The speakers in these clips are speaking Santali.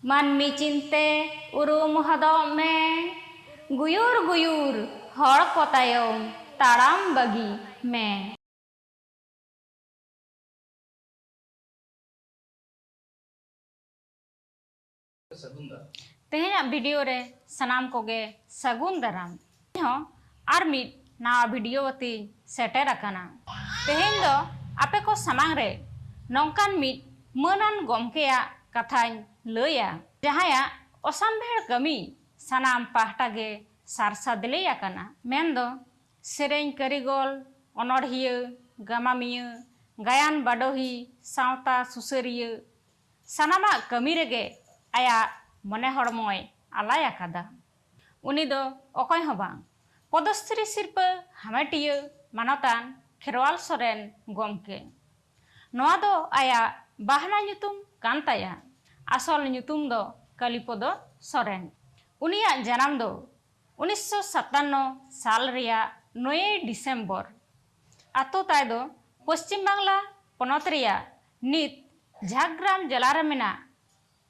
ᱢᱟᱹᱱᱢᱤ ᱪᱤᱱᱛᱮ ᱩᱨᱩᱢ ᱦᱚᱫᱚᱜ ᱢᱮ᱾ ᱜᱩᱭᱩᱨ ᱜᱩᱭᱩᱨ ᱦᱚᱲ ᱠᱚ ᱛᱟᱭᱚᱢ ᱛᱟᱲᱟᱢ ᱵᱟᱹᱜᱤ ᱢᱮ᱾ ᱛᱮᱦᱮᱧᱟᱜ ᱵᱷᱤᱰᱤᱭᱳ ᱨᱮ ᱥᱟᱱᱟᱢ ᱠᱚᱜᱮ ᱥᱟᱹᱜᱩᱱ ᱫᱟᱨᱟᱢ᱾ ᱤᱧ ᱦᱚᱸ ᱟᱨ ᱢᱤᱫ ᱱᱟᱣᱟ ᱵᱷᱤᱰᱤᱭᱳ ᱟᱛᱮᱧ ᱥᱮᱴᱮᱨ ᱟᱠᱟᱱᱟ᱾ ᱛᱮᱦᱮᱧ ᱫᱚ ᱟᱯᱮ ᱠᱚ ᱥᱟᱢᱟᱝ ᱨᱮ ᱱᱚᱝᱠᱟᱱ ᱢᱤᱫ ᱢᱟᱹᱱᱟᱱ ᱜᱚᱢᱠᱮᱭᱟᱜ ᱠᱟᱛᱷᱟᱧ ᱞᱟᱹᱭᱟ᱾ ᱡᱟᱦᱟᱸᱭᱟᱜ ᱚᱥᱟᱢᱵᱷᱮᱲ ᱠᱟᱹᱢᱤ ᱥᱟᱱᱟᱢ ᱯᱟᱦᱴᱟ ᱜᱮ ᱥᱟᱨ ᱥᱟᱫᱽᱞᱮ ᱟᱠᱟᱱᱟ᱾ ᱢᱮᱱ ᱫᱚ ᱥᱮᱨᱮᱧ ᱠᱟᱹᱨᱤᱜᱚᱞ, ᱚᱱᱚᱬᱦᱤᱭᱟᱹ, ᱜᱟᱢᱟᱢᱤᱭᱟᱹ, ᱜᱟᱭᱟᱱ ᱵᱟᱰᱚᱦᱤ, ᱥᱟᱶᱛᱟ ᱥᱩᱥᱟᱹᱨᱤᱭᱟᱹ, ᱥᱟᱱᱟᱢᱟᱜ ᱠᱟᱹᱢᱤ ᱨᱮᱜᱮ ᱟᱭᱟᱜ ᱢᱚᱱᱮ ᱦᱚᱲᱢᱚᱭ ᱟᱞᱟᱭ ᱟᱠᱟᱫᱟ᱾ ᱩᱱᱤ ᱫᱚ ᱚᱠᱚᱭ ᱦᱚᱸ ᱵᱟᱝ, ᱯᱚᱫᱚᱥᱨᱤ ᱥᱤᱨᱯᱟᱹ ᱦᱟᱢᱮᱴᱤᱭᱟᱹ ᱢᱟᱱᱚᱛᱟᱱ ᱠᱷᱮᱨᱣᱟᱞ ᱥᱚᱨᱮᱱ ᱜᱚᱢᱠᱮ᱾ ᱱᱚᱣᱟ ᱫᱚ ᱟᱭᱟᱜ ᱵᱟᱦᱱᱟ ᱧᱩᱛᱩᱢ ᱠᱟᱱ ᱛᱟᱭᱟ, ᱟᱥᱚᱞ ᱧᱩᱛᱩᱢ ᱫᱚ ᱠᱟᱞᱤᱯᱚᱫᱚ ᱥᱚᱨᱮᱱ᱾ ᱩᱱᱤᱭᱟᱜ ᱡᱟᱱᱟᱢ ᱫᱚ ᱩᱱᱤᱥᱥᱚ ᱥᱟᱛᱟᱱᱱᱚ ᱥᱟᱞ ᱨᱮᱭᱟᱜ ᱱᱚᱭᱮᱭ ᱰᱤᱥᱮᱢᱵᱚᱨ᱾ ᱟᱛᱳ ᱛᱟᱭ ᱫᱚ ᱯᱚᱪᱷᱤᱢ ᱵᱟᱝᱞᱟ ᱯᱚᱱᱚᱛ ᱨᱮᱭᱟᱜ ᱱᱤᱛ ᱡᱷᱟᱜᱽᱜᱨᱟᱢ ᱡᱮᱞᱟ ᱨᱮ ᱢᱮᱱᱟᱜ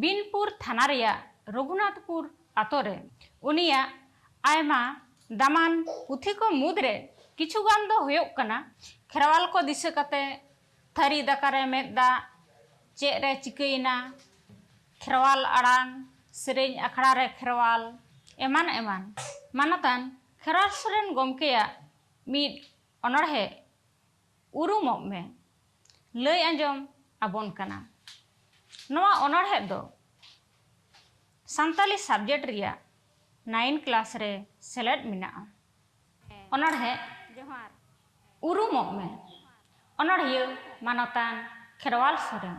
ᱵᱤᱱᱯᱩᱨ ᱛᱷᱟᱱᱟ ᱨᱮᱭᱟᱜ ᱨᱚᱜᱷᱩᱱᱟᱛᱷᱯᱩᱨ ᱟᱛᱳ ᱨᱮ᱾ ᱩᱱᱤᱭᱟᱜ ᱟᱭᱢᱟ ᱫᱟᱢᱟᱱ ᱯᱩᱛᱷᱤ ᱠᱚ ᱢᱩᱫᱽ ᱨᱮ ᱠᱤᱪᱷᱩ ᱜᱟᱱ ᱫᱚ ᱦᱳᱭᱳᱜ ᱠᱟᱱᱟ ᱠᱷᱮᱨᱣᱟᱞ ᱠᱚ ᱫᱤᱥᱟᱹ ᱠᱟᱛᱮ, ᱛᱷᱟᱹᱨᱤ ᱫᱟᱠᱟ ᱨᱮ ᱢᱮᱫ ᱫᱟᱜ, ᱪᱮᱫ ᱨᱮ ᱪᱤᱠᱟᱹᱭᱮᱱᱟ, ᱠᱷᱮᱨᱣᱟᱞ ᱟᱲᱟᱝ, ᱥᱮᱨᱮᱧ ᱟᱠᱷᱲᱟ ᱨᱮ ᱠᱷᱮᱨᱣᱟᱞ ᱮᱢᱟᱱ ᱮᱢᱟᱱ᱾ ᱢᱟᱱᱚᱛᱟᱱ ᱠᱷᱮᱨᱣᱟᱞ ᱥᱚᱨᱮᱱ ᱜᱚᱢᱠᱮᱭᱟᱜ ᱢᱤᱫ ᱚᱱᱚᱬᱦᱮ ᱩᱨᱩᱢᱚᱜ ᱢᱮ ᱞᱟᱹᱭ ᱟᱸᱡᱚᱢ ᱟᱵᱚᱱ ᱠᱟᱱᱟ᱾ ᱱᱚᱣᱟ ᱚᱱᱚᱬᱦᱮᱫ ᱫᱚ ᱥᱟᱱᱛᱟᱞᱤ ᱥᱟᱵᱽᱡᱮᱠᱴ ᱨᱮᱭᱟᱜ ᱱᱟᱭᱤᱱ ᱠᱞᱟᱥ ᱨᱮ ᱥᱮᱞᱮᱫ ᱢᱮᱱᱟᱜᱼᱟ᱾ ᱚᱱᱚᱬᱦᱮᱫ ᱩᱨᱩᱢᱚᱜ ᱢᱮ ᱚᱱᱚᱬᱦᱤᱭᱟᱹ ᱢᱟᱱᱚᱛᱟᱱ ᱠᱷᱮᱨᱣᱟᱞ ᱥᱚᱨᱮᱱ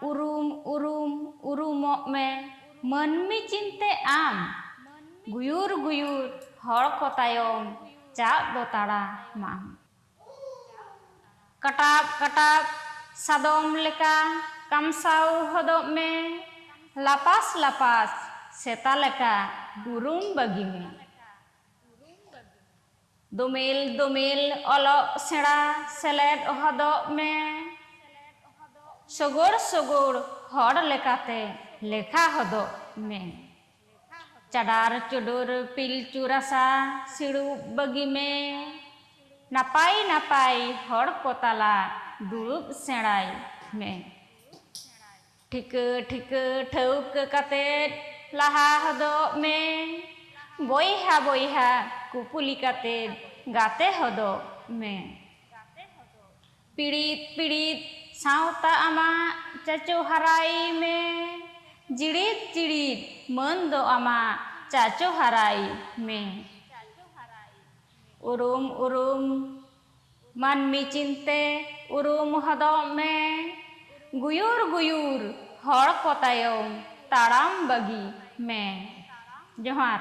ᱩᱨᱩᱢ ᱩᱨᱩᱢ ᱩᱨᱩᱢᱚᱜ ᱢᱮ ᱢᱟᱹᱱᱢᱤ ᱪᱤᱱᱛᱮ ᱟᱢ ᱜᱩᱭᱩᱨ ᱜᱩᱭᱩᱨ ᱦᱚᱲ ᱠᱚ ᱛᱟᱭᱚᱢ ᱪᱟᱜ ᱫᱚ ᱛᱟᱲᱟ ᱢᱟᱢ᱾ ᱠᱟᱴᱟᱵ ᱠᱟᱴᱟᱵ ᱥᱟᱫᱚᱢ ᱞᱮᱠᱟ ᱠᱟᱢᱥᱟᱣ ᱦᱚᱫᱚᱜ ᱢᱮ ᱞᱟᱯᱟᱥ ᱞᱟᱯᱟᱥ ᱥᱮᱛᱟ ᱞᱮᱠᱟ ᱩᱨᱩᱢ ᱵᱟᱹᱜᱤ ᱢᱮ᱾ ᱫᱳᱢᱮᱞ ᱫᱳᱢᱮᱞ ᱚᱞᱚᱜ ᱥᱮᱬᱟ ᱥᱮᱞᱮᱫ ᱦᱚᱫᱚᱜ ᱢᱮ ᱥᱳᱜᱳᱲ ᱥᱳᱜᱳᱲ ᱦᱚᱲ ᱞᱮᱠᱟᱛᱮ ᱞᱮᱠᱷᱟ ᱦᱚᱫᱚᱜ ᱢᱮ ᱪᱟᱰᱟᱨ ᱪᱳᱰᱳᱨ ᱯᱤᱞᱪᱩ ᱨᱟᱥᱟ ᱥᱤᱲᱩᱵ ᱵᱟᱹᱜᱤ ᱢᱮ ᱱᱟᱯᱟᱭ ᱱᱟᱯᱟᱭ ᱦᱚᱲ ᱠᱚ ᱛᱟᱞᱟ ᱫᱩᱲᱩᱵ ᱥᱮᱬᱟᱭ ᱢᱮ᱾ ᱴᱷᱤᱠᱟᱹ ᱴᱷᱤᱠᱟᱹ ᱴᱷᱟᱹᱣᱠᱟᱹ ᱠᱟᱛᱮᱫ ᱞᱟᱦᱟ ᱦᱚᱫᱚᱜ ᱢᱮ᱾ ᱵᱚᱭᱦᱟ ᱵᱚᱭᱦᱟ ᱠᱩᱯᱩᱞᱤ ᱠᱟᱛᱮᱫ ᱜᱟᱛᱮ ᱦᱚᱫᱚᱜ ᱢᱮ᱾ ᱯᱤᱲᱤᱛ ᱯᱤᱲᱤᱛ ᱥᱟᱶᱛᱟ ᱟᱢᱟᱜ ᱪᱟᱪᱚ ᱦᱟᱨᱟᱭ ᱢᱮ᱾ ᱡᱤᱲᱤᱫ ᱡᱤᱲᱤᱫ ᱢᱟᱹᱱ ᱫᱚ ᱟᱢᱟᱜ ᱪᱟᱪᱚ ᱦᱟᱨᱟᱭ ᱢᱮ᱾ ᱩᱨᱩᱢ ᱩᱨᱩᱢ᱾ ᱢᱟᱹᱱᱢᱤ ᱪᱤᱱᱛᱮ ᱩᱨᱩᱢ ᱦᱚᱫᱚᱜ ᱢᱮ᱾ ᱜᱩᱭᱩᱨ ᱜᱩᱭᱩᱨ ᱦᱚᱲ ᱠᱚ ᱛᱟᱭᱚᱢ ᱛᱟᱲᱟᱢ ᱵᱟᱹᱜᱤ ᱢᱮ᱾ ᱡᱚᱦᱟᱨ᱾